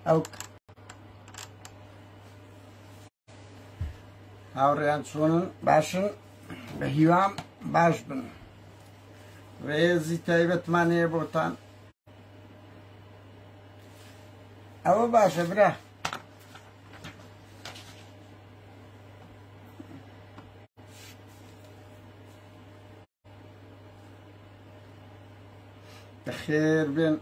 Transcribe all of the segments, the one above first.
ئەو هاوڕێیان چۆنن باشن بە هیوام باش بن ڕێزی تایبەتمان هەیە بۆتان ئەوە باشە برا خێر بێن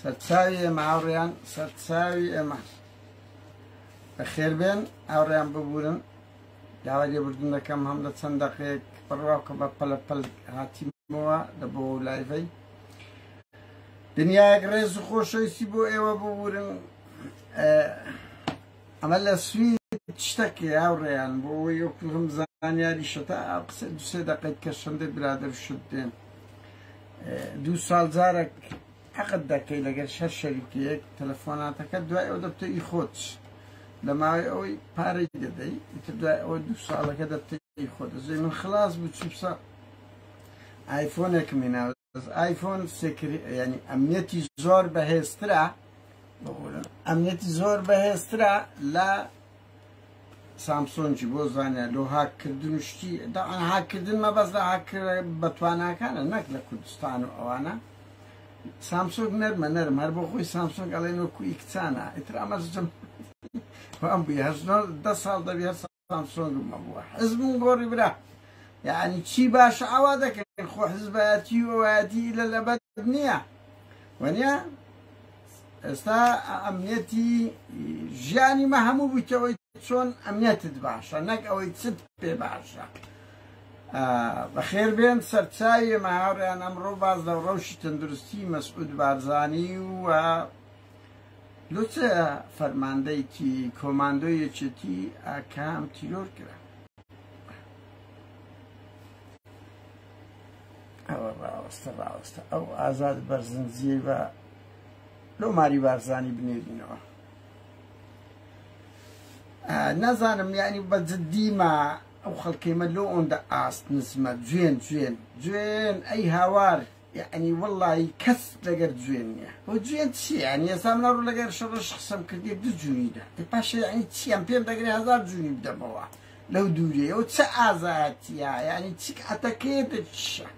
سەرچاوی ئێمە هاوڕێیان سەرچاوی ئێمە بە خێر بێن هاوڕێیان ببورن داوا لێبوردن دەکەم هەم لە چەند دەقێک بڕواکە بە پەلە پەل هاتیمەوە لە بۆ لایڤەی دنیایەک ڕێز و خۆشەویستی بۆ ئێوە ببورن ئەمە لە سوید شتەک هاوڕێیان بۆ ئەوەی ئەو کلم زانیاری شتا قسە دوسێ دەقیت کە شەندە برادر شت دێن دوو ساڵ جارێک حەقت دەکەی لەگەر شەر شەریکیەک تەلەفۆناتەکە دوای ئەو دەبتە ئی خۆت لە ماوەی ئەوەی پارەی دەدەی ئیتر دوای ئەوە دوو ساڵەکە دەبتە ئی خۆ دەزەی من خلاص بوو چیپسە ئایفۆنێکمی ناوە ئایفۆن سێکری یعنی ئەمنیەتی زۆر بەهێزترە ئەمنیەتی زۆر بەهێزترە لە سامسۆنجی بۆ زانە لۆ هاکردن و شتی داعا هاکردن مەبەست لە هاکرد بە تواناکانە نەک لە کوردستان و ئەوانە سامسۆک نەرمە نەرم هەر بۆ خۆی سامسۆنگ ئەڵێن وەکوی کچانە ئیتر ئەمەزم ئەم بووی هەژنۆ دە ساڵ دەبێت سامسۆنگم هەبووە حزبم گۆڕی برا یعنی چی باشە ئاوا دەکەن خۆ حزبایەتی و ئەوایەتی لە لەبەت نییە وەنیا ئێستا ئەمنیەتی ژیانی مە هەموو بوویتەوەی چۆن ئەمنیەتت باشە نەک ئەوەی چت پێ باشە بەخێر بێن سەرچاوی ماهاڕیان ئەمڕۆ باز لە ڕەوشی تەندروستی مەسعود بارزانانی و لوچەیە فەرماندەیەکی کۆماندۆی یەکێتی ئاکام تیرۆر کرا ئەوە ڕاوەستە ڕاوەستە ئەو ئازاد بەرزنجیە بە لەو ماری بارزانی بنێرینەوە نازانم یعنی بە جددیمە ئەو خەڵکەیمە لۆ ئەوەندە ئاست نزمە جوێن جوێن جوێن ئەی هاوار یەعنی وەڵایی کەس لەگەر جوێن نیە هۆ جوێن چیە یەعنی ئێستا من ئەڕۆم لەگەر شڕش قسەم کردیە دو جونی دا ئێ پاشە یەعنی چی ئەم پێم دەگرێ هەزار جونی بدەمەوە لەو دوریەی ئەو چە ئازایەتیە یەعنی چ کاتەکەیە دە چشە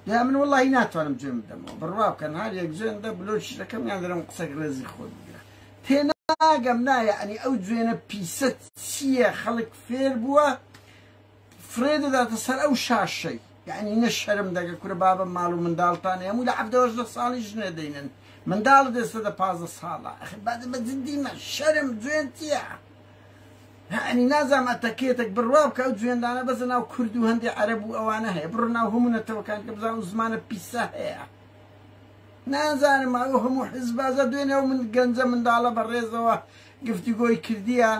یا من وەڵایی ناتوانم جوێن بدەمەوە بڕوا بکەن هەر یەک جوێن دە بلۆکی دەکەم یان دەرم قسەک ڕێزی خۆت بگرە تێناگەم نا یەعنی ئەو جوێنە پیسە چیە خەڵک فێر بوە فرێ دەداتە سەر ئەو شاشەی یەعنی نە شەرم دەکە کورە بابە ماڵ و منداڵتانە هەمووی لە حەڤدە هەژدە ساڵی ژنێ دەینن منداڵت ئێستا دە پازدە ساڵە ئەخ بەدە بە جدی مە شەرم جوێن تیە یەعنی نازام ئەتەکێتێک بڕوا بکە ئەو جوێندانە بەزە ناو کورد و هەندێک عەرەب و ئەوانە هەیە بڕۆ ناو هەموو نەتەوەکان کە بزان و زمانە پیسە هەیە نازانم ئەو هەموو حزبازە دوێنێ و من گەنجە منداڵە بە ڕێزەوە گفتوگۆی کردیە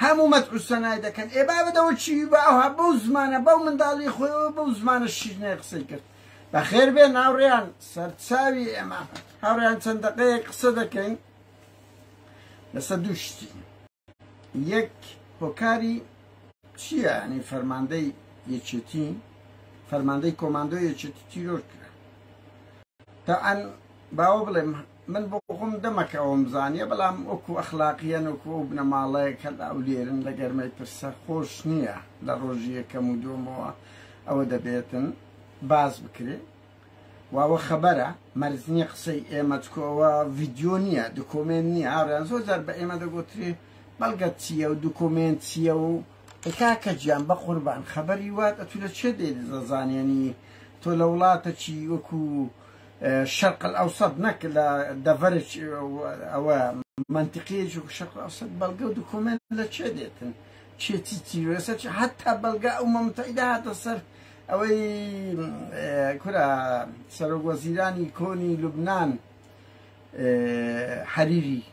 هەموو مەدح و سەنای دەکەن ئێ بابە دەوە چیوی بە ئەوها بەو زمانە بەو منداڵی خۆیەوە بەو زمانە شیرنەی قسەی کرد بەخێر بێ ناوڕیان سەرچاوی ئێمە هاوڕیان چەند دەقەیەک قسە دەکەین لەسە دوو شتی یەک هۆکاری چییە ینی فەرماندەی یەکێتی فەرماندەی کۆماندۆ یەکێتی تیرۆر کرا تاعاان باوە بڵێم من بۆخۆم دەمەکە ئەوەم زانیە بەڵام وەکو ئەخلاقیەن وەکو ئەو بنەماڵەیە کە لاولێرن لە گەرمەی پرسە خۆش نیە لە ڕۆژی یەکەم و دووەمەوە ئەوە دەبێتن باس بکرێ و ئەوە خەبەرە مەرز نیە قسەی ئێمە چکۆ ئەوە ڤیدیۆ نیە دکۆمێنت نیە هاوریان زۆر جار بە ئێمە دەگوترێ بەڵگەت چییە و دکۆمێنت چییە و کاکە گیان بە قوربان خەبەری وات ئەتو لە چێ دێت زانێنی تۆ لە وڵاتە چی وەکو شرق الاوسط نەک لە دەڤەرج ئەوە مەنتقیە جوک شرق الاوسط بەڵگە و دکۆمێنت لە چێ دێتن چێ چی چی وێسە چی حتا بەڵگە ئەو مەمتەیدا هاتە سەر ئەوەی کورا سەرۆک وەزیرانی کۆنی لوبنان حەریری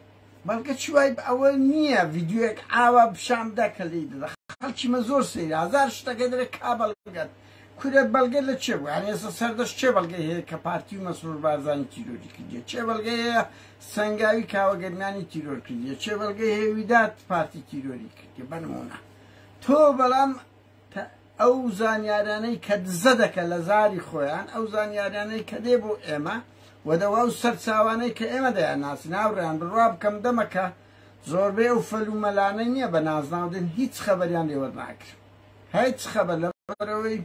بەڵگە چی وای ئەوە نییە ڤیددیوەک ئاوا بشام دەکەلی دەخ خەڵکی مە زۆر سەیر هزار شتەکە درێ کا بەڵگەت کورە بەڵگە لە چێ بوو یانی ئێستا سەردەشت چێ بەڵگەی هەیە کە پارتی و مەسرور بارزانی تیرۆری کردیە چێ بەڵگەی هەیە سەنگاوی کاوە گەرمیانی تیرۆر کردیە چێ بەڵگەی هەیە ویدات پارتی تیرۆری کردیە بەنمونە تۆ بەڵام ئەو زانیارانەی کە دزە دەکە لە زاری خۆیان ئەو زانیارانەی کە دێ بۆ ئێمە وەدەوا و سەرچاوانەی کە ئێمە دەیان ناسی ناوڕیان بڕوا بکەم دەمەکە زۆربەی ئەو فەلومەلانە نییە بە نازناودن هیچ خەبەریان لێوەر ناکرم هیچ خەبەر لەبەرەوەی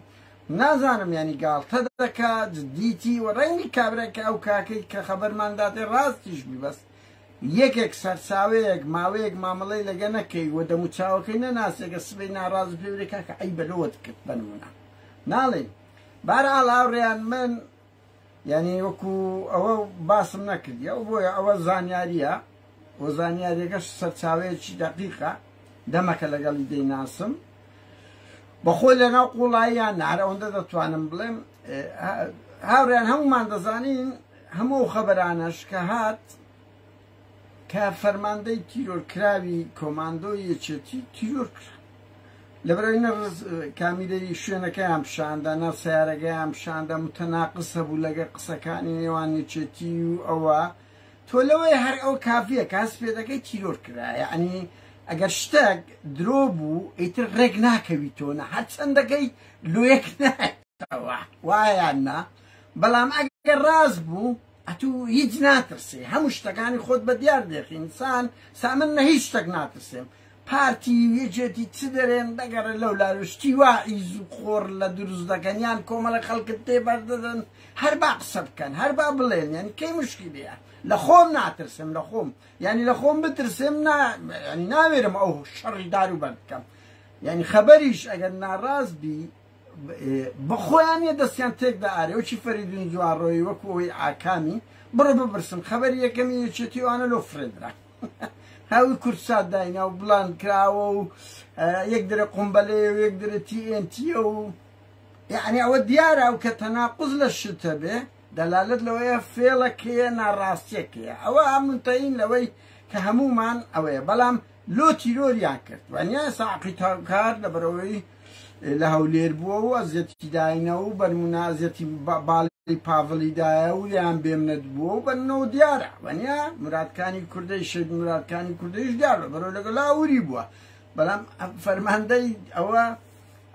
نازانم یانی گاڵتە دەکا جدیتی و ڕەنگی کابرای کە ئەو کاکەی کە خەبەرمان داتێ ڕاستیش بی بەس یەکێک سەرچاوەیەک ماوەیەک مامەڵەی لەگە نەکەی و دەموچاوەکەی نەناسێگە سبەی ناڕاز پێورێکا کە ئەی بەلۆت کرد بەنمونە ناڵێن بارە ئاڵاوڕێیان من یعنی وەکو ئەوە باسم نەکردی ئەو بۆیە ئەوە زانیاریە و زانیاریەکەش سەرچاوەیەکی دەقیقە دەمەکە لەگەڵی دەیناسم بەخۆی لە ناو قوڵاییان نار ئەوەندە دەتوانم بڵێم هاوریان هەمومان دەزانین هەموو خەبەرانەش کە هات کە فەرماندەی تیرۆرکراوی کۆماندۆی یەکێتی تیرۆر کرا لەبەرەوەی نەڕز کامیرەی شوێنەکەیان پیشاندا ناو سیارەکەیان پیشاندا متەناقص هەبوو لەگە قسەکانی نێوان یەکێتی و ئەوە تۆ لەوەی هەر ئەو کافیە کاس پێ دەکەی تیرۆر کرایە ئەنی ئەگەر شتێک درۆ بوو ئیتر ڕێک ناکەویتۆنە هەرچەندەکەی لۆ یەک نایە کردووەتەوە وا یان نا بەڵام ئەگەر ڕاست بوو ئەتو هیچ ناترسی هەموو شتەکانی خۆت بە دیار دێخی انسان سامن نە هیچ شتەک ناترسێم پارتی یەکێتی چ دەرێن دەگەڕێن لەو لاوشتی وا ئیز و خۆڕ لە دروست دەکەن یان کۆمەڵە خەڵکت تێ بەردەدەن هەر با قسە بکەن هەر با بڵێن یان کەی مشکلیە لە خۆم ناترسم لە خۆم ینی لە خۆم بترسم ناوێرم ئەو شەڕی دارو بەر بکەم ینی خەبەریش ئەگەر ناڕاست بی بەخۆیان نیە دەستیان تێکدا ئارێ وەکی فەریدون جوانڕۆی وەکو ئەوەی ئاکامی بڕۆ بپرسم خەبەری یەکەمی یەکێتی وانە لۆ فرێدرا هاوی کوردسات داینا و بڵان کراوە و یەک درە قمبەلێ و یەک درە تیئنتیە و یعنی ئەوە دیارە ئەو کە تەناقز لە شتە بێ دەلالت لەوەیە فێڵەکەیە ناڕاستیەکەیە ئەوە ئامنتەین لەوەی کە هەمومان ئەوەیە بەڵام لۆ تیرۆریان کرد وانیان ساقی تاوکار لەبەرئەوەی لە هەولێر بووە و ئەزیەتی داینە و بەرمونە ئەزیەتی باڵی پاڤڵی دایە و لێیان بێمنەت بووە و بەننەوە دیارە وانیە مرادکانی کوردەی شەید مرادکانی کوردەیش دیار لەبەرەوە لەگە لاوری بووە بەڵام فەرماندەی ئەوە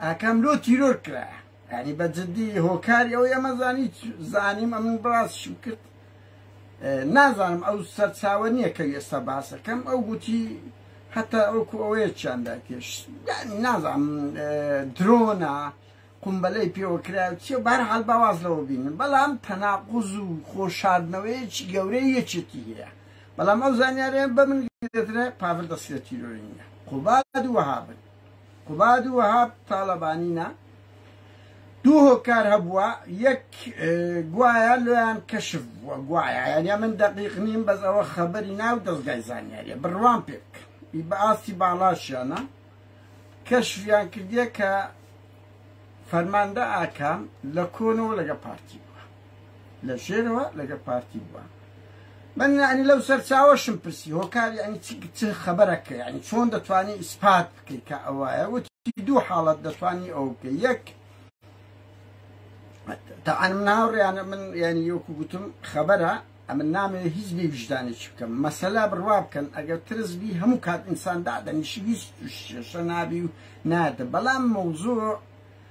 ئاکام لۆ تیرۆر کرایە یانی بە جدی هۆکاری ئەوەی ئەمە زانی زانیم ئەمن بڕاستشم کرد نازانم ئەو سەرچاوە نییە کە ئێستا باسەکەم ئەو گوتی هەتا ئەوکو ئەوەیە چیاندا تێش یانی نازانم درۆنا قمبەلەی پێوەکرا چێ بار حال باواز لەوە بینن بەڵام تەناقوز و خۆشاردنەوەیەکی گەورەی یەکێتی هەیە بەڵام ئەو زانیارەیە بە من دەترە پاڤل دەستێتی رۆی نیە قوباد وەهابن قوباد و وەهاب تاڵەبانی نا دوو هۆکار هەبووە یەک گوایە لۆیان کەشف بووە گوایە یانە من دەقیق نیم بەس ئەوە خەبەری ناو دەستگای زانیاریە بڕوان پێک بە ئاستی باڵاشیانە کەشفیان کردیە کە فەرماندە ئاکام لە کۆنەوە لەگە پارتی لە ژێرەوە لەگە پارتی بووە من یعنی لەو سەرچاوەشم پرسی هۆکار یعنی چ خەبەرەکە یعنی چۆن دەتوانانی ئیسپات بکەیت کە ئەوایە وتی دوو حاڵەت دەتوانانی ئەو بکە یەک تاعاان من هاوڕیانە من یعنی یۆکو گوتم خەبەرە ئەمن نامێ هیچ بی وژدانێک بکەم مەسەلا بڕوا بکەن ئەگەر ترس بی هەموو کات ئینسان دادەنیشی هیچ شێشە نابی و نادە بەڵام مەوزوع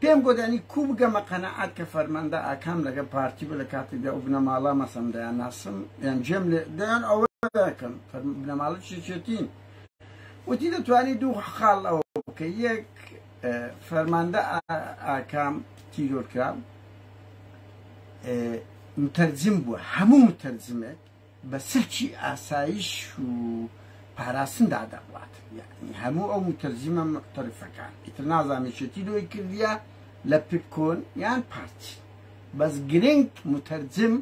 پێم گۆت ئەنی کوو بگەمە قەناعات کە فەرماندە ئاکام لەگەڵ پارتی بوو لە کاتێکدا ئەو بنەماڵە مەسەم دەیانناسم یان جێم لێ دەیان ئەوە دەکەم بنەماڵە چێچێتین وتی دەتوانانی دوو خاڵ ئەوە بکە یەک فەرماندە ئاکام تیرۆرکرا متەرجم بووە هەموو متەرجمێک بە سلکی ئاسایش و پاراستندا دەڕوات یەعنی هەموو ئەو موتەرجیمە موعتەرفەکان ئیتر نازانم یەکێتی لۆی کردیە لە پپکۆن یان پارتی بەس گرنگ موتەرجم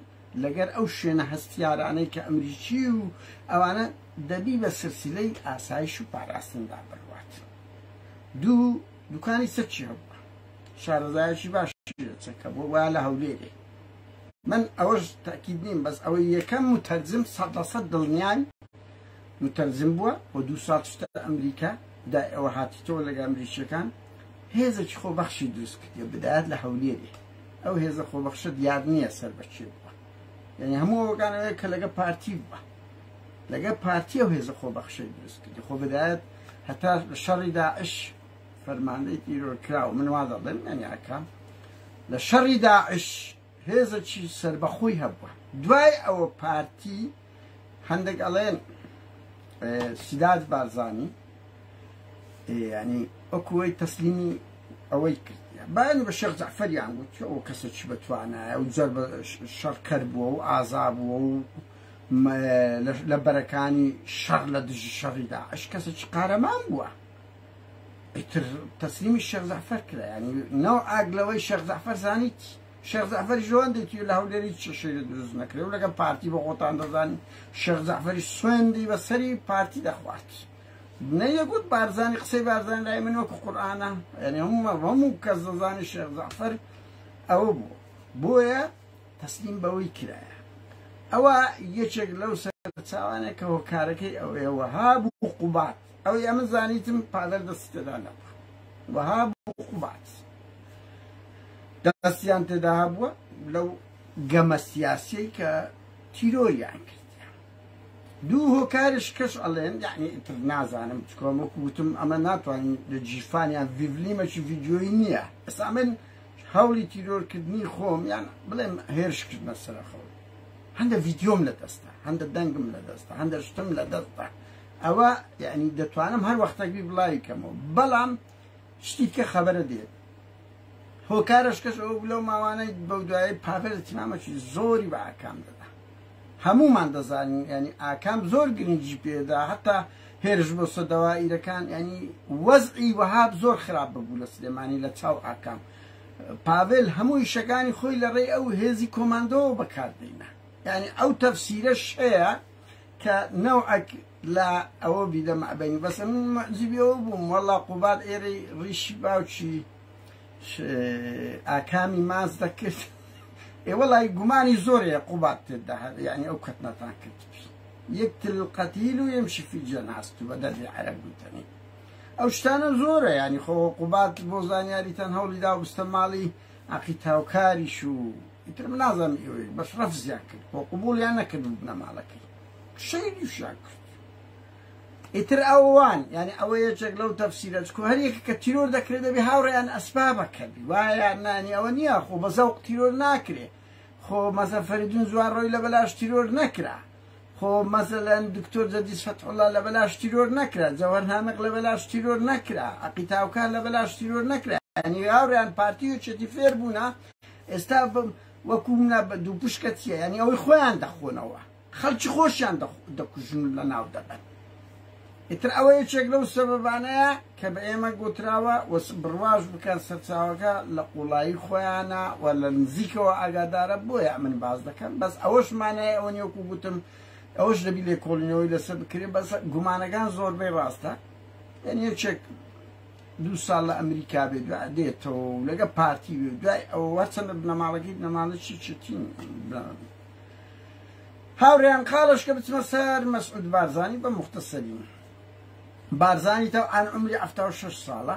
لەگەر ئەو شوێنە هەستیارانەی کە ئەمریکی و ئەوانە دەبی بە سلسلەی ئاسایش و پاراستندا بەروات دوو دوکانی سەرچی هەبووە شارەزایەکی باش چەکە بۆ وا لە هەولێرێ من ئەوەش تەئکید نیم بەس ئەوەی یەکەم موتەرجم سەد لە سەد دڵنیام موتەرجم بووە و دوو ساڵ چوتە ئەمریکا دای ئەوە هاتیتەوە لەگەڵ ئەمریکیەکان هێزەکی خۆ بەخشی دروست کردیە بدایەت لە هەولێری ئەو هێزە خۆ بەخشە دیار نییە سەر بە کێ بووە یعنی هەموو ئەوەکان ئەوەیە کە لەگە پارتی بووە لەگە پارتی ئەو هێزە خۆ بەخشەی دروست کردی خۆ بدایەت هەتا شەڕی داعش فەرماندەی تیرۆرکراو من وا دەڵێم یانیاکە لە شەڕی داعش هێزەکی سربەخۆی هەبووە دوای ئەوە پارتی هەندێک ئەڵێن سیداد بارزانی ینی ئەوکوی تەسلیمی ئەوەی کرد بەن بە شێخ جعفەریان گوت ئەو کەسە چی بەتوانایە و جەر شەڕکەر بووە و ئازا بووە و لە بەرەکانی شەڕ لە دژی شەڕیدا ئەش کەسە چ قارەمان بووە ئیتر تەسلیمی شێخ جەعفەر کرا یانی نەوعاک لەوەی شێخ جەعفەر زانیت شێخ جەعفەریش لەوەندێکی لە هەولێری هیچ کێشەی لێ دروست نەکرێ و لەگەڵ پارتی بە خۆتان دەزانن شێخ جەعفەری سوێندی بە سەری پارتی دەخوارد نەیەگوت بارزانی قسەی بارزان لای من وەکو قورئانە یعنی هەموو هەموو کەس دەزانی شێخ جەعفەر ئەوە بوو بۆیە تەسلیم بەوەی کرایە ئەوە یەکێک لەو سەرچاوانێک کە هۆکارەکەی ئەوەیە وەها بوو قوبات ئەوەی ئەمن زانیتم پادەر دەستی تێدا نەبووە وەها بوو قوبات دەستیان تێدا هەبووە لەو گەمە سیاسیەی کە تیرۆریان کرد دوو هۆکارش کەش ئەڵێن یعنی تر نازانم چکۆم وەکو وتم ئەمە ناتوانین لە جیفانیان ڤیڤلیمەکی ڤیددیۆی نییە ئەسا من هەوڵی تیرۆرکردنی خۆم یان بڵێم هێرشکردنە سەرخەوە هەندە ڤیددیۆم لە دەستە هەندە دەنگم لە دەستە هەندە شتم لە دەستە ئەوە یعنی دەتوانم هەر وەختەک بی بڵاوی کەمەوە بەڵام شتیکە خەبەرە دێت هۆکارش کەس ئەو لەو ماوانەی بەو دوای پاڤێر تیمامەکی زۆری بە ئاکام دەدا هەمومان دەزانین ینی ئاکام زۆر گرنگی پێدا هەتا هێرش بۆ سەدەوا ئیرەکان ینی وەزعی وەهاب زۆر خراپ ببوو لە سلێمانی لە چاو ئاکام پاڤێل هەموو شەکانی خۆی لە ڕێی ئەو هێزی کۆماندەوە بەکاردێنە ینی ئەو تەفسیرە شەیە کە نەوعەک لە ئەوە بیدە مەعدەنی بەسە من مەعجیبی ئەوە بووم وەڵا قوباد ئێرەی ڕیشی باوکی ئاکامی ماس دەکرد ئێ وەڵای گومانی زۆرەیە قوباد تێدا یعنی ئەو کەتنەتان کرد یەک تل قەتیل و یەمشی فی جەناس تو بە دەردی عەرەب گوتنی ئەو شتانە زۆرە ینی خۆ قوبات بۆ زانیاریتان هەوڵی دا بستە ماڵی عەقید هاوکاریش و ئیتر من نازانم ئێوەی بەس ڕەفزیان کرد خۆ قبوڵیان نەکرد و بنەماڵە کرد شەیدیشیان کرد ئیتر ئەوان یعنی ئەوە یەکێک لەو تەفسیرە چکۆ هەر یەکە کە تیرۆر دەکرێت دەبێ هاوڕێیان ئەسبابە کردی وایە نانی ئەوە نییە خۆ بە زەوق تیرۆر ناکرێ خۆ مەزەفەریدون زوان ڕۆی لە بەلاش تیرۆر نەکرا خۆ مەسەلەن دکتۆر جەدیس فەتحوڵا لە بەلاش تیرۆر نەکرا جەوهەر نامق لە بەلاش تیرۆر نەکرا عەقید تاوکار لە بەلاش تیرۆر نەکرا یعنی هاوریان پارتی و چێتی فێر بوونە ئێستا بم وەکو منە بە دوو پشکە چیە یعنی ئەوەی خۆیان دەخۆنەوە خەڵکی خۆشیان دەخ- دەکوژن و لە ناو دەبەن ئیتر ئەوە یەکێک لەو سەبەبانەیە کە بە ئێمە گوتراوە و بڕواش بکەن سەرچاوەکە لە قوڵایی خۆیانە و لە نزیکەوە ئاگادارە بۆیە ئەمن باس دەکەم بەس ئەوەش مانای ئەوە نیە وەکو گوتم ئەوەش دەبی لێکۆڵینەوەی لەسەر بکرێت بەس گومانەکان زۆربەی ڕاستە یعنی یەکێک دوو ساڵ لە ئەمریکا بێ دو دێتەوە و لەگە پارتی بێ دوای ئەوە وەرچەندە بنەماڵەکەی بنەماڵەی چی چتین هاوریان قالش کە بچمە سەر مەسعود بارزانی بە موختەسەری بارزانی تەو عەن عمری حەفتا و شەش ساڵە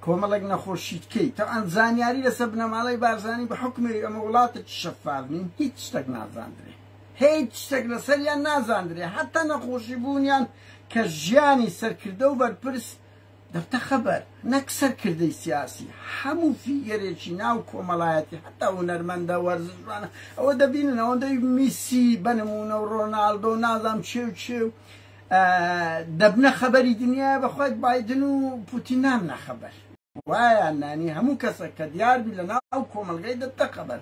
کۆمەڵێک نەخۆشی تکەی تەو عەن زانیاری لە سە بنەماڵەی بارزانی بە حوکمێری ئەمە وڵاتە چ شەفاف نین هیچ شتەک نازاندرێ هیچ شتێک لەسەریان نازاندرێ حتا نەخۆشی بوونیان کە ژیانی سەرکردە و بەرپرس دەبتە خەبەر نەک سەرکردەی سیاسی، هەموو فیگەرێکی ناو کۆمەڵایەتی حەتا هونەرمەندە وەرزشوانە ئەوە دەبینن ئەوەندەی میسی بەنموونە و ڕۆناڵدۆ و نازام چێ و چێ و دەبنە خەبەری دنیایە بەخوای بایدن و پوتین نامنە خەبەر وایان نانی هەموو کەسە کە دیاربی لە ناو کۆمەلگای دەبتە خەبەر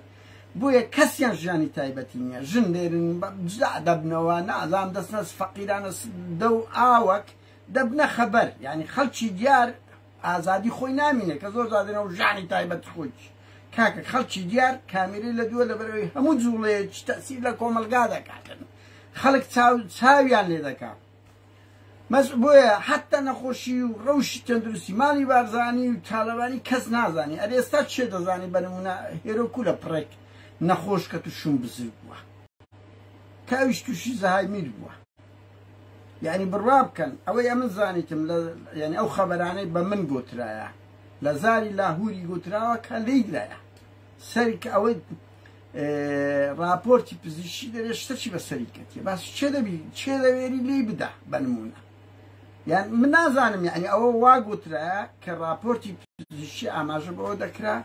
بۆیە کەسیان ژیانی تایبەتی نییە ژن لێرن جدا دەبنەوە نازام دەستنەس فەقیرانە دە و ئاوەک دەبنە خەبەر یانی خەلکی دیار ئازادی خۆی نامینێ کە زۆر جار دەنەوە ژانی تایبەت خۆیچ کاکە خەلکی دیار کامیرەی لە دووە لەبەرەوەی هەموو جوڵەیەکی تەسیر لە کۆمەلگا دەکاتن خەلک چاو چاویان لێ دەکا مەس بۆیە حتا نەخۆشی و ڕەوشی تەندروستی مالی بارزانی و تالەبانی کەس نازانی ئەرێ ئێستا چێ دەزانی بەنمونە هێرۆ کو لە پڕێک نەخۆش کە تو شوم بزر بووە کاویش تووشی زەهایمیر بووە یعنی بڕوا بکەن ئەوەی ئەمن زانیتم یعنی ئەو خەبەرانەی بە من گوترایە لە زاری لاهوری گوتراوە کە لیدایە سەرک ئەوەی راپۆرتی پزیشی دەێ شتەچی بە سەری کەێ باس چێ دەبی چێ دەوێری لی بدا بەنمونە یان من نازانم یعنی ئەوە وا گوترا کە راپۆرتی پزیشی ئاماژە بەوە دەکرا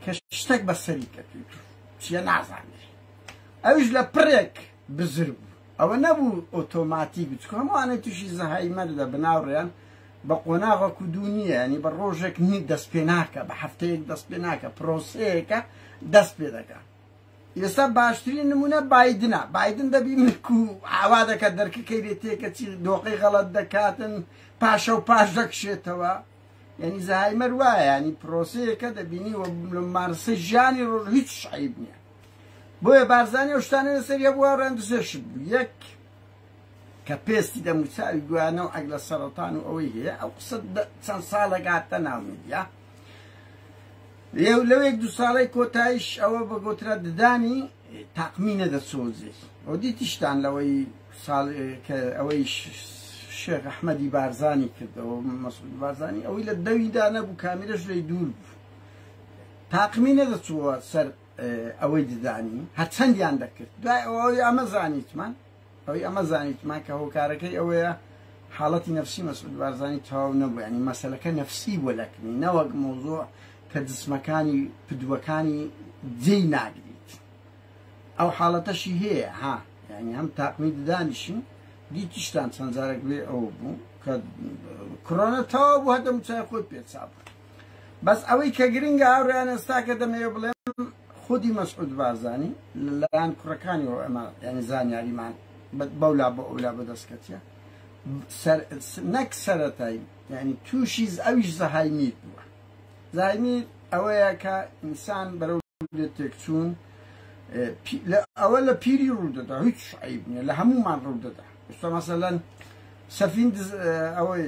کە شتێک بە سەری کەێت چیە نازانێت ئەوش لە پرێک بزر بوو ئەوە نەبوو ئۆتۆماتیک بچوو هەمووانەی تووشی زەهایمەر دەبن ناوڕێیان بە قۆناغەک و دوو نییە ینی بە ڕۆژێک نی دەست پێ ناکە بە هەفتەیەک دەست پێ ناکە پرۆسەیەەکە دەست پێ دەکە ئێستا باشترین نمونە بادنە بادن دەبی ملک و ئاوا دەکات دەرکەکەی لێ تێکە چی دۆقی غەڵت دەکاتن پاشە و پاش دەکشێتەوە یعنی زەهایمەر وایە ینی پرۆسەیەکە دەبینی و مارسە ژیانی ڕۆژ هیچ شعیب نییە بۆیە بارزانی ئەو شتانە لەسەری هەبووە ڕێندزێشت بوو یەک کە پێستی دەموچاوی گویانە و عەگلە سەرەتان و ئەوەی هەیە ئەو قسە چەند ساڵێک هاتە ناو میدیا لێو لەوێک دو ساڵی کۆتایش ئەوە بە گۆترە ددانی تاقمی نەدەسۆزی ئەو دیتیشتان لەوەی ساڵ کە ئەوەی شێخ ئەحمەدی بارزانی کردەوە مەسعود بارزانی ئەوەی لە دەویدا نەبوو کامیرەش لێی دوور بوو تاقمی نەدەچووە سەر ئەوەی ددانی هەرچەندیان دەکرد دوای ئەوە ئەوی ئەمە زانیتمان ئەوی ئەمە زانیتمان کە هۆکارەکەی ئەوەیە حاڵەتی نفسی مەسعود بارزانانی تەواو نەبوو ینی مەسلەکە نفسی بۆ لەکنی نەوەک مۆزۆع کە جسمەکانی پدووەکانی جێی ناگریت ئەو حاڵەتەشی هەیە ها ینی هەم تاقمی ددانیشن دیتیشتان چەندجارێک بێ ئەوە بوو کە کڕۆنە تەواو بوو هەدەم چای خۆی پێچا بوو بەس ئەوەی کە گرنگە هاوڕێیان ئێستا کە دەمەوێ بڵێم خودی مەسعود بارزانی لە لایەن کوڕەکانیەوە ئەمە یعنی زانیاریمان بەولا بۆ ئەولا بەدەست کەتیە سەر نەک سەرەتایی یعنی تووشی ئەویش زەهایمیر بووە زایمیر ئەوەیە کە ئینسان بەرەو لێ تێکچوون ئەوە لە پیری ڕوودەدا هیچ عیب نیە لە هەمومان ڕوودەدا ئستا مەسەلەن سەفین ئەوەی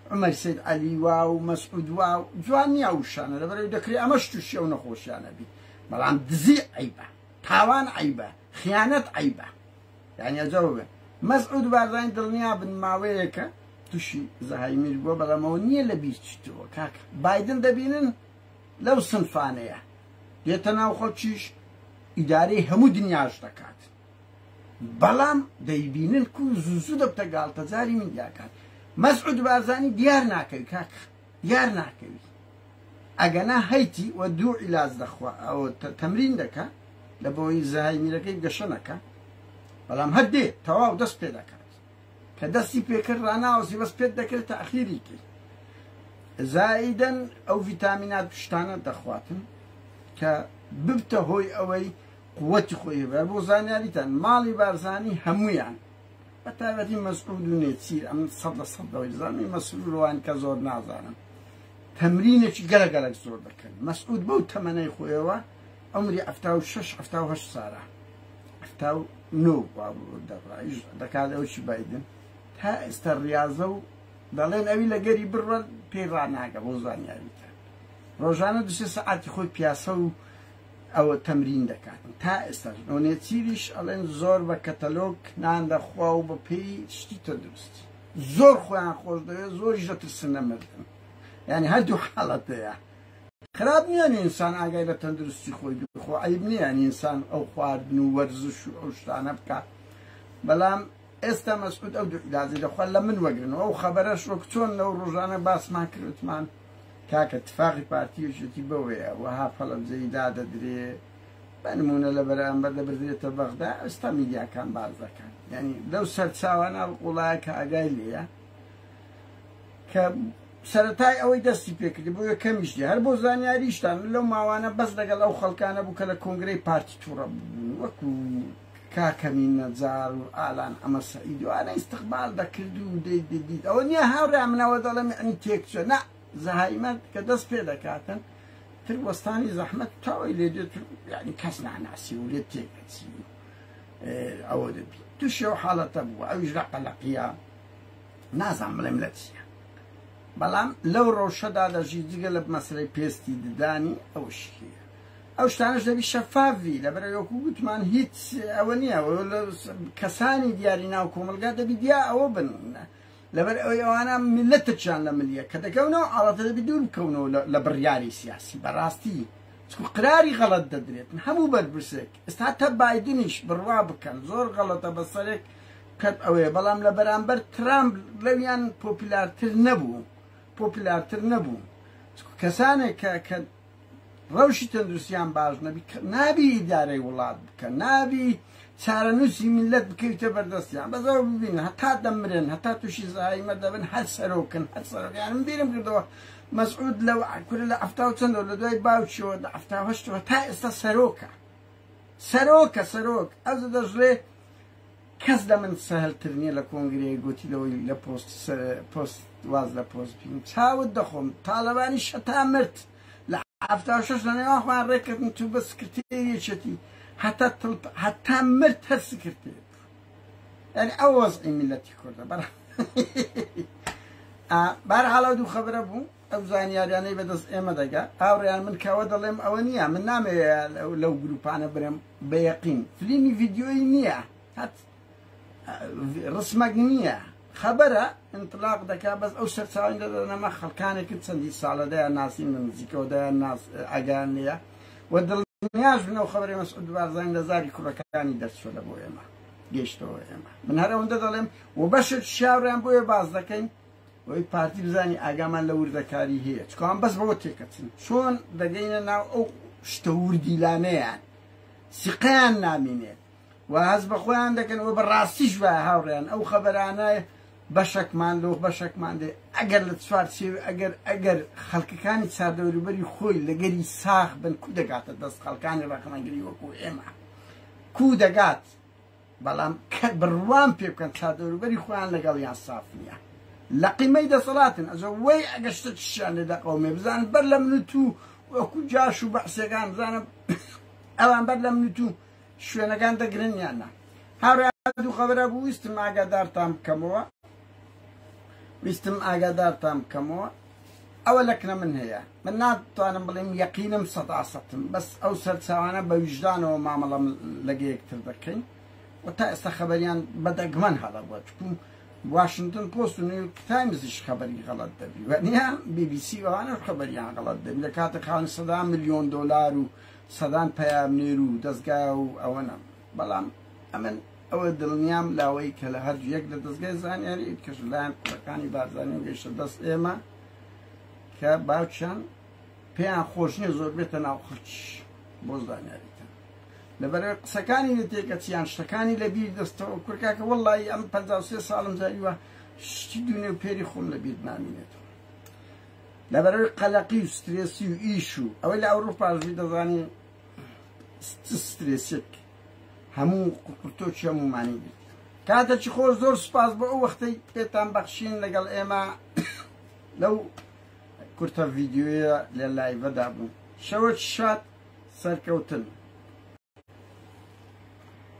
عومەر سید عەلی وا و مەسعود وا و جوان نیە ئەو وشانە لەبەرئەوەی دەکرێ ئەمەش توشی ئەو نەخۆشیانە بی بەڵام دزی عەیبە تاوان عەیبە خیانەت عەیبە یانی ئەجەو بێ مەسعود و بارزانی دڵنیا بن ماوەیەکە توشی زەهایمیر بووە بەڵام ئەوە نییە لە بیرچیتەوە کاکە بایدن دەبینن لەو سنفانەیە دێتە ناو خەڵکیش ئیدارەی هەموو دنیاش دەکات بەڵام دەیبینن کو زوو زوو دەبتە گاڵتەجاری میدیاکان مەسعود بارزانی دیار ناکەوی کاک دیار ناکەوی ئەگەنا هەیتی و دوو عیلاج دەخوا ئەو تەمرین دەکە لە بۆی زەهای میرەکەی گەشە نەکە بەڵام هەر دێ تەواو دەست پێ دەکات کە دەستی پێکرد ڕناوەسی بەس پێت دەکرێت تاخیری کرد زایدەن ئەو ڤیتامینات پشتانە دەخواتن کە ببتە هۆی ئەوەی قوتی خۆی هەبێت بۆ زانیاریتان ماڵی بارزانی هەموویان بە تایبەتی مەسعود و نێچیر ئەم سەد لە سەد دەوەی زانانی مەسرورەوان کە زۆر نازانن تەمرینێکی گەلە گەلک زۆر دەکەن مەسعود بەو تەمەنەی خۆیەوە ئەمری ئەفتا و شش ئەفتا و هەشت سارە ئەفتا و نۆ دەڕایش دەکات ئەوشی بادن تا ئێستا ڕاضە و دەڵێن ئەوی لە گەری بڕە پێی ڕناگە بۆ زانیاریتە ڕۆژانە دوسێ سەعاتی خۆی پیاسە و ئەوە تەمرین دەکات و تا ئێستاش نۆنێچیریش ئەڵێن زۆر بە کەتەلۆگ نان دەخوا و بە پێی شتی تەندروست زۆر خۆیان خۆش دەوێت زۆریش دەترسن لە مردن یعنی هەردوو حاڵەتەیە خراپ نییە ئینسان ئاگای لە تەندروستی خۆی بخۆ عیب نییە ئینسان ئەو خواردن و وەرزش و ئەو شتانە بکات بەڵام ئێستا مەسعود ئەو دوو عیلاجەی دەخوا لە من وەگرن و ئەو خەبەرەش وەک چۆن لەو ڕۆژانە باسمان کرد وتمان کاکە تفاقی پارتی یەکێتی بەوەیە وەها فەلەنجەیی دادەدرێ بە نموونە لە بەرامبەر دەبردرێتە بەغدا ئێستا میدیاکان باس دەکەن یعنی لەو سەرچاوانە ئەڵقوڵایە کە ئاگای لێیە کە سەرەتای ئەوەی دەستی پێکردی بۆ یەکەمیش دی هەر بۆ زانیاریشتان لەو ماوانە بەس لەگەڵ ئەو خەڵکانە بوو کە لە کۆنگرەی پارتی تووڕە بوون وەکو کاکە مین نەجار و ئالان عەمە سەعید و ئانە ئیستقبال دەکرد و دەی دەدیت ئەوە نیە هاورێیان من ئەوە دەڵێم یەعنی تێک چوە نا زەهایمەن کە دەست پێ دەکاتن تر وەستانی زەحمەت تاوەی لێ دێت یعنی کەس ناناسی و لێ تێک دەچی ئەوە دەبی تووشی ئەو حاڵەتە بوو ئەویش لە قەلەقیە نازان بڵێم لە چیە بەڵام لەو ڕەوشەدا دەژی جگە لە مەسلەی پێستی ددانی ئەوشیە ئەو شتانەش دەبی شەفاف بی لەبەر ئەوەی وەکو گوتمان هیچ ئەوە نییە کەسانی دیاری ناو کۆمەڵگا دەبی دیا ئەوە بن لەبەر ئەوەی ئەوانە ملت ترچیان لە ملیە کە دەکەونەوە ئاڵاتە دەبی دوور بکەونەوە لە بڕیاری سیاسی بەڕاستی چکو قراری غەڵەت دەدرێت هەموو بەرپرسێک ئستا تە بادنیش بڕوا بکەن زۆر غەڵەتە بەسەرێک کەت ئەوەیە بەڵام لە بەرامبەر ترامپ لەویان پۆپیلارتر نەبوو پۆپیلارتر نەبوو کەسانێک کە ڕەوشی تەندروستیان باش نەبی نابی ئیدارەی وڵات بکە نابی چارەنووسی میلەت بکەویتە بەردەستیان بەزەوە ببینن هەتا دەمرن هەتا تووشی زایمە دەبن هەر سەرۆکن هەر سەرۆکیان من بیرم کردەوە مەسعود لەو کورە لە ئەفتا و چەندەوە لە دوای باوکیەوە لە ئەفتا هەشتەوە تا ئێستا سەرۆکە سەرۆکە سەرۆک ئەو دەژرێ کەس لە من سەهل تر نیە لە کۆنگرەیەک گۆتی لەوەی لە پۆست سەر پۆست واز لە پۆست بینم چاوت دەخۆم تالەبانی شەتا مرد لە حەفتا و شەش لە نێوان خۆیان ڕێککەتن چوو بە سکرتێری یەکێتی هەتا تڵ هەتا مرد هەر سکرتێر یعنی ئەو وەزعی میلەتی کوردە بەرە بارحاڵە دوو خەبرە بوو ئەو زانیاریانەی بەدەست ئێمە دەگا هاوڕێیان من کەوە دەڵێم ئەوە نییە من نامەوێ لەو گروپانە برم بە یەقین فلیمی ڤیددیۆی نییە هەت ڕسمەک نییە خەبەرە انطلاق دەکا بەس ئەو سەرچاوی دەدەنەمە خەڵکانێکن چەندی ساڵە دەیان ناسی من نزیکەوە دەیان ناس ئەگان لە و دڵنیاش بنەوە خەبەری مەسعود بارزان لە زاری کوڕەکانی دەرچوە لە بۆ ئێمە گەشتەوە ئێمە من هەر ئەوەندە دەڵێم و بەشت شاوریان بۆیە باز دەکەین ئەوەی پارتی بزانانی ئاگامان لە وردەکاری هەیە چکان بەس بەوە تێکەچن چۆن دەگەینە ناو ئەو شتە وردیلانەیان سیقیان نامینێت و هەز بە خۆیان دەکەن و بە ڕاستیش وە هاوڕێن ئەو خەبەرانە بەشەکمان لۆ بەشەکمان دێ ئەگەر لە چوار سێو ئەگەر ئەگەر خەڵکەکانی چاردەوروبەری خۆی لەگەری ساخ بن کو دەگاتە دەست خەڵکانی ڕەخنەگری وەکو ئێمە کو دەگات بەڵام کە بڕوام پێ بکەن چادەوروبەری خۆیان لەگەڵیان ساف نیە لەقیمەی دەسەڵاتن ئەجە وەی ئەگە شتە چشیان لێ دەقەومێ بزانن بەر لە من تو وەکو جاش و بەعسێکان بزانم ئەوان بەر لە من تو شوێنەکان دەگرن یان نا هاورا دوو خەبرە بوو ویستم ئاگادارتان بکەمەوە ویستم ئاگادارتان بکەمەوە ئەوە لەکنە من هەیە من ناتوانم بڵێم یەقینم سەدا سەتم بەس ئەو سەرچاوانە بە ویژدانەوە مامەڵەم لەگە یەکتر دەکەین و تا ئێستا خەبەریان بەدەگمەن هەڵە بووە چکوم واشنگتن پۆست و نیویورک تایمزیش خەبەری غەڵەت دەبی و نیە بی بی سی ئەوانە خەبەریان غەڵەت دەبی لە کاتە خاوەن سەدا ملیۆن دۆلار و سەدان پەیامنێر و دەستگا و ئەوەنە بەڵام ئەمن ئەوە دڵنیام لەوەی کە لە هەر یەک لە دەستگای زانیاری کەش لایەن قەکانی بارزانانی گەیشتە دەست ئێمە کە باوچیان پێیان خۆش نیە زۆر بێتە ناو خەچ بۆ زانیاری لەبەر قسەکانی نتێکە چیان شتەکانی لە بیر دەستەوە کورکاکە وەڵی ئەم پ ساڵم زاریوە شتی دوێ و پێری خۆم لە بیر نامینێتەوە لەبەرەوەی قەلەقی و سترێسی و ئیش و ئەوەی لە ئەوروپاژی دەزانین سترێسێک هەموو قوپرتۆکی هەموومانی گرت کاتێکی خۆش زۆر سپاس بۆ ئەو وەختەی پێتان بەخشین لەگەڵ ئێمە لەو کورتە ڤیددیوە لە لایڤەدا بوو شەوە شاد سەرکەوتن